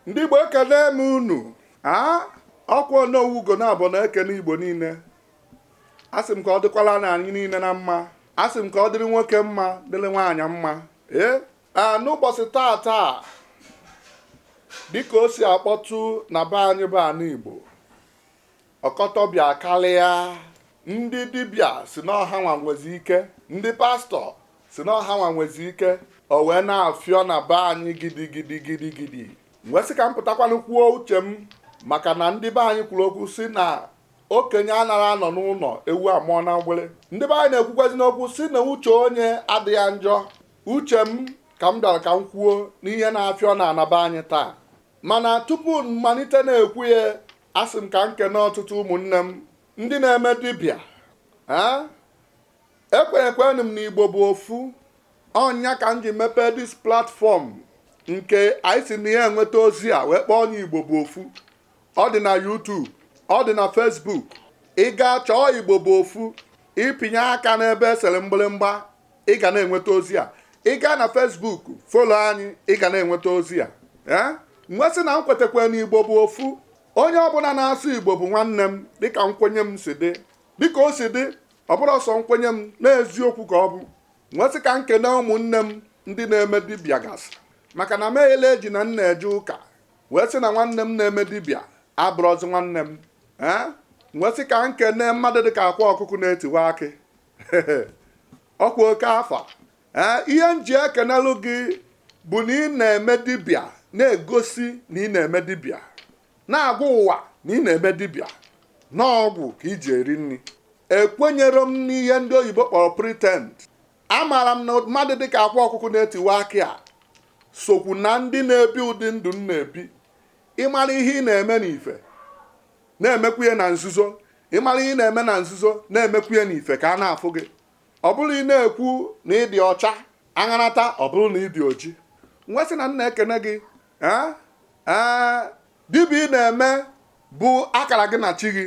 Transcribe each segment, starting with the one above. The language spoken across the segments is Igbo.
ndị Igbo ekene m unu aa ọkwa Onowu Ugonabọ na-ekene Igbo niile asị m ka ọ dịkwala na anyị niile na mma asị m ka ọ dịrị nwoke mma dịrị nwaanyị mma ee n'ụbọsị taa taa dịka o si akpọtụ na be anyị bụ ana Igbo ọkọtọbịa karịa ndị dibịa sị na ọ ha nwa nwezi ike ndị pastọ sị na ọ ha nwa nwezi ike o wee na-afịọ na be anyị gidigidi gidigidi m wee sị ka m pụtakwanụ kwuo uche m maka na ndị be anyị kwuru okwu sị na okenye anara anọ n'ụnọ ewu amụọ na mgbere ndị be anyị na-ekwukwazi n'okwu sị na uche onye adịghị ya njọ uche m ka m bịara ka m kwuo n'ihe na-afịọ na ana be anyị taa mana tupu m malite na-ekwu ya asị m ka m kene ọtụtụ ụmụnne m ndị na-eme dibịa ekwenyekwenụ m na igbo bụ ofu ọ nya ka m ji mepee this platform nke anyị si na ya enweta ozi a wee kpọọ nya igbo bụ ofu ọ dị na YouTube ọ dị na Facebook ị gaa chọọ igbo bụ ofu ị pịnye aka n'ebe e sere mgbịrịmgba ị ga na-enweta ozi a ị gaa na Facebook follow anyị ị ga na-enweta ozi a ee m wee sị na m kwetakwa na igbo bụ ofu onye ọbụla na-asụ igbo bụ nwanne m dịka nkwenye m si dị dịka o si dị ọ bụrọ sọ nkwenye m na eziokwu ka ọ bụ m wee sị ka m kene ụmụnne m ndị na-eme dibịa gasị maka na m ejela eji na m na-eje ụka wee sị na nwanne m na-eme dibịa abụrọzi nwanne m ee m wee sị ka m kene mmadụ dịka akwa ọkụkụ na-etiwa akị ọkwa oke afa ee ihe m ji ekenelụ gị bụ na ị na-eme dibịa na-egosi na ị na-eme dibịa na-agwa ụwa na ị na-eme dibịa na ọgwụ ka i ji eri nri ekwenyere m n'ihe ndị oyibo kpọrọ pretend amaara m na mmadụ dịka akwa ọkụkụ na-etiwa akị a sokwu na ndị na-ebi ụdị ndụ m na-ebi ị mara ihe ị na-eme n'ife na-emekwu ya na nzuzo ị mara ihe ị na-eme na nzuzo na-emekwu ya n'ife ka a na-afụ gị ọ bụrọ ị na-ekwu na ị dị ọcha aṅanata ọ bụrụ na ị dị oji m wee sị na m na-ekene gị ee ee dibịa ị na-eme bụ akara gị na chi gị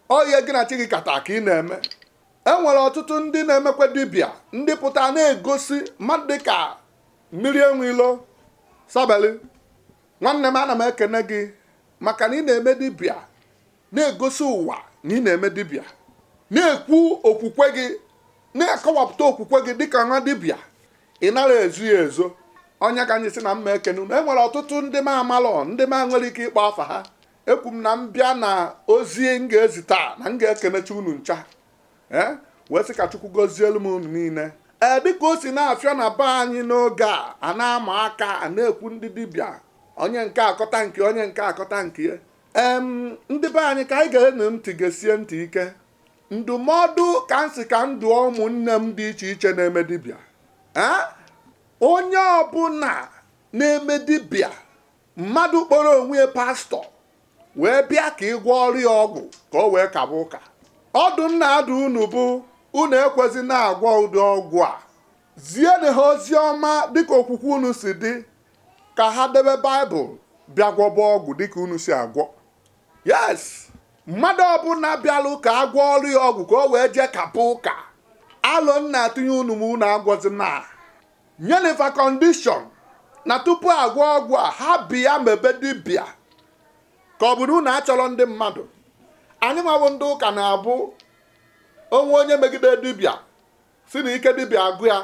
ọ ihe gị na chi gị kata ka ị na-eme e nwere ọtụtụ ndị na-emekwa dibịa ndị pụta na-egosi mmadụ dị ka mmiri enwe ilo sabeli nwanne m ana m ekene gị maka na ị na-eme dibịa na-egosi ụwa na ị na-eme dibịa na-ekwu okwukwe gị na-akọwapụta okwukwe gị dịka nwa dibịa ị nara ezo ya ezo ọ nya ka m ji sị na m ma ekene unu e nwere ọtụtụ ndị m amalọ ndị m nwere ike ịkpọ afa ha ekwu m na m bịa na ozi m ga-ezi taa na m ga-ekenechi unu ncha ee wee sị ka chukwu gozielu m unu niile ee dịka o si na-afịọ na be anyị n'oge a a na-ama aka a na-ekwu ndị dibịa onye nke a kọta nke onye nke a kọta nke ya em ndị be anyị ka anyị geenụ ntị gesie ntị ike ndụmọdụ ka m si ka m dụọ ụmụnne m dị iche iche na-eme dibịa ee onye ọbụla na-eme dibịa mmadụ kpọrọ onwe ya pastọ wee bịa ka ị gwọọrọ ya ọgwụ ka o wee kaba ụka ọdụ m na-adụ unu bụ unu ekwezina agwọ ụdị ọgwụ a zienụ ha ozi ọma dịka okwukwe unu si dị ka ha debe baịbụl bịa gwọba ọgwụ dịka unu si agwọ yes mmadụ ọbụla bịalụ ka a gwọọrọ ya ọgwụ ka o wee jee kaba ụka alo m na-atụnye unu ma unu agwọzina nyeli fa kọndishọn na tupu a gwọọ ọgwụ a ha bịa mebe dibịa ka ọ bụrụ unu achọrọ ndị mmadụ anyị nwa bụ ndị ụka na-abụ o nwee onye megide dibịa sị na ike dibịa agwụ ya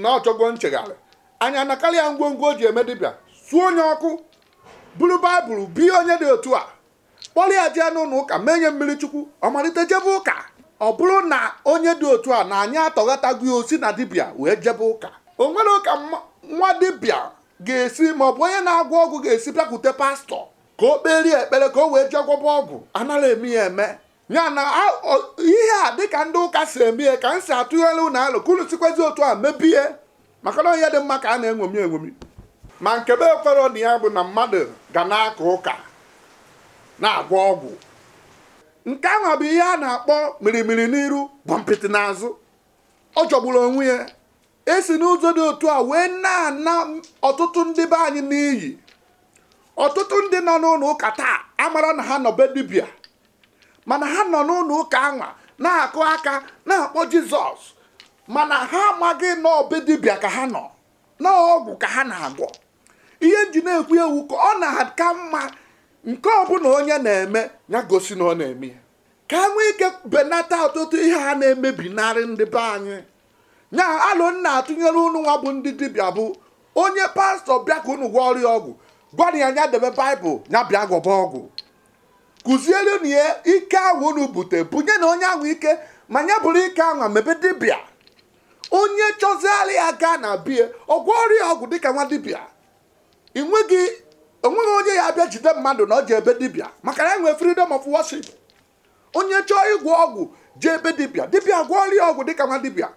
na ọ chọgo nchegharị anyị anakọrị ya ngwongwo o ji eme dibịa suo nye ọkụ buru baịbụl bie onye dị otu a kpọrọ ya jee n'ụlọ ụka mee nye mmiri chukwu ọ malite jebe ụka ọ bụrụ na onye dị otu a na anyị atọghatago ya o si na dibịa wee jebe ụka o nwerọ ka nwa dibịa ga-esi ma ọ bụ onye na-agwọ ọgwụ ga-esi bịakwute pastọ ka o kperie ekpere ka o wee jee gwọba ọgwụ anaghị eme ya eme ya na ihe a dịka ndị ụka si eme ya ka m si atụnyelu unu alo ka unu sikwazi otu a mebie maka na onye dị mma ka a na-enwomi enwomi ma nke m ekwerọ na ya bụ na mmadụ ga na-aka ụka na-agwọ ọgwụ nke ahụ bụ ihe a na-akpọ mirimiri n'iru gbompiti n'azụ ọ jọgburu onwe ya E si n'ụzọ dị otu a wee na-ana ọtụtụ ndị be anyị n'iyi. Ọtụtụ ndị nọ n'ụlọ ụka taa amarọ na ha nọ be dibịa mana ha nọ n'ụlọ ụka anwa na-akụ aka na-akpọ Jizọs mana ha amaghị na ọ be dibịa ka ha nọ na ọgwụ ka ha na-agwọ. Ihe m ji na-ekwu ya wụ ka ọ na-aka mma nke ọbụla onye na-eme ya gosi na ọ na-eme ya. ka a nwee ike benata ọtụtụ ihe ha na-emebinarị ndị be anyị nya alo m na-atụnyere unu nwa bụ ndị dibịa bụ onye pastọ bịa ka unu gwọọrọ ya ọgwụ gwara ya nya debe baịbụl ya bịa gwọba ọgwụ kuzierenụ ya ike ahụ unu bute bunyenụ onye ahụ ike ma nya buru ike ahụ mebe dibịa onye chọziara ya gaa na be ya ọ gwọọrọ ya ọgwụ dịka nwa dibịa ị nweghị o nweghị onye ya-abịa jide mmadụ na o je be dibịa maka na e nwee freedom of worship onye chọọ ịgwọ ọgwụ jee be dibịa dibịa gwọọrọ ya ọgwụ dịka nwa dibịa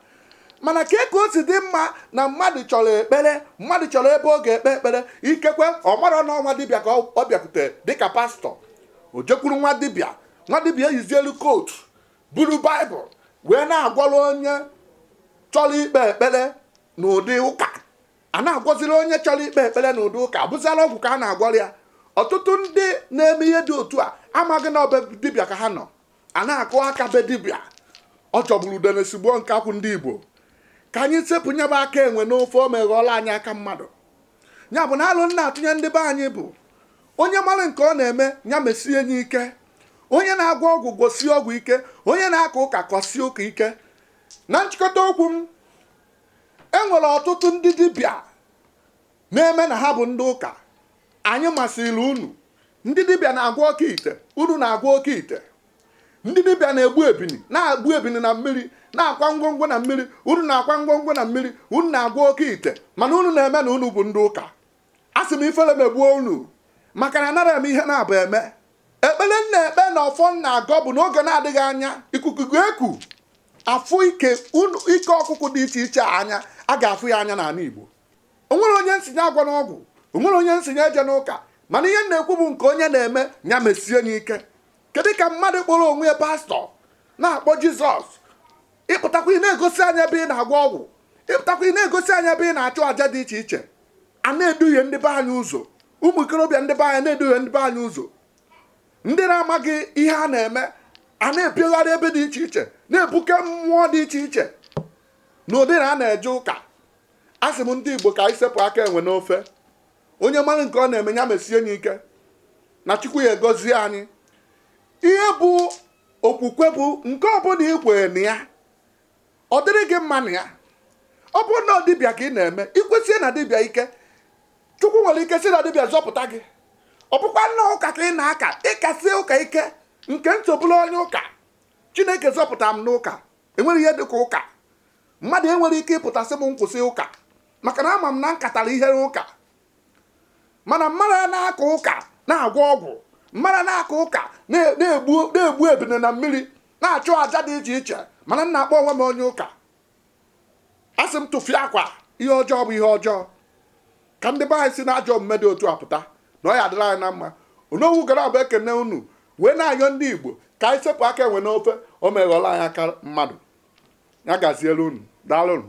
mana kee ka o si dị mma na mmadụ chọrọ ekpere mmadụ chọrọ ebe ọ ga-ekpe ekpere ikekwe ọ marọ na ọ nwa dibịa ka ọ bịakwute dịka pastọ o jekwuru nwa dibịa nwa dibịa eyizielu kootu buru baịbụl wee na-agwọrọ onye chọrọ ikpe ekpere n'ụdị ụka a na-agwọziri onye chọrọ ikpe ekpere na ụdị ụka bụziri ọgwụ ka a na-agwọrọ ya ọtụtụ ndị na-eme ihe dị otu a amaghị na ọ be dibịa ka ha nọ a na-akụ aka be dibịa ọ jọgburu udene sigbuo nkakwụ ndị igbo ka anyị sepụ nya bụ aka enwe n'ofe o meghọọla anyị aka mmadụ ya bụ na alo m na-atụnye ndị be anyị bụ onye mara nke ọ na-eme ya mesie nya ike onye na-agwọ ọgwụ gwọsie ọgwụ ike onye na-aka ụka kasie ụka ike na nchịkọta okwu m e nwere ọtụtụ ndị dibịa na-eme na ha bụ ndị ụka anyị masịrị unu ndị dibịa na-agwọ oke ite unu na-agwọ oke ite ndị dibịa na-egbu ebini na-egbu ebini na mmiri na-akwa ngwongwo na mmiri unu na-akwa ngwongwo na mmiri unu na-agwọ oke ite mana unu na-eme na unu bụ ndị ụka asị m ifele megbuo unu maka na anara eme ihe na-abụ eme ekpere m na-ekpe na ọfọ m na-agọ bụ n'oge na-adịghị anya ikuku ga-eku a fụ ike ọkụkụ dị iche iche anya a ga-afụ ya anya n'ala Igbo o nwere onye m sị nya agwọna ọgwụ o nwere onye m sị nya ejena ụka mana ihe m na-ekwu bụ nke onye na-eme ya mesie nya ike kedu ka mmadụ kpọrọ onwe ya pastọ na-akpọ jizọs ị pụtakwa ị na-egosi anyị ebe ị na-agwọ ọgwụ ị pụtakwa ị na-egosi anyị ebe ị na-achụ àja dị iche iche a na-eduhie ndị be anyị ụzọ ụmụ ikorobịa ndị be anyị na-eduhie ndị be anyị ụzọ ndị na-amaghị ihe a na-eme a na-epiogharị ebe dị iche iche na-ebuke mmụọ dị iche iche na ụdị na a na-eje ụka a sị m ndị igbo ka anyị sepụ aka enwe n'ofe onye mara nke ọ na-eme ya mesie ya ike na chukwu ya-agọzi anyị ihe bụ okwukwe bụ nke ọbụla ị kwere na ya ọ dịrị gị mma na ya ọ bụrụ na ọ dibịa ka ị na-eme i kwesie na dibịa ike chukwu nwere ike si na dibịa zọpụta gị ọ bụkwanụ ụka ka ị na-aka ị kasie ụka ike nke m so bụrụ onye ụka chineke zọpụtara m n'ụka enwere ihe dịka ụka Mmadụ enwere ike ịpụta sị m m kwụsị ụka maka na ama m na m katara ihe n'ụka mana mmadụ a na-aka ụka na-agwọ ọgwụ mmadụ na-aka ụka na-egbu ebini na mmiri na-achụ aja dị iche iche mana m na-akpọ onwe m onye ụka asị m tụfiakwa ihe ọjọọ bụ ihe ọjọọ ka ndị be anyị si na ajọ omume dị otu a pụta na ọ ya-adịrị anyị na mma onowu ugonabọ ekene unu wee na-ayọ ndị igbo ka anyị sepụ aka enwe n'ofe o meghọla anyị aka mmadụ ya gaziere unu daalụnụ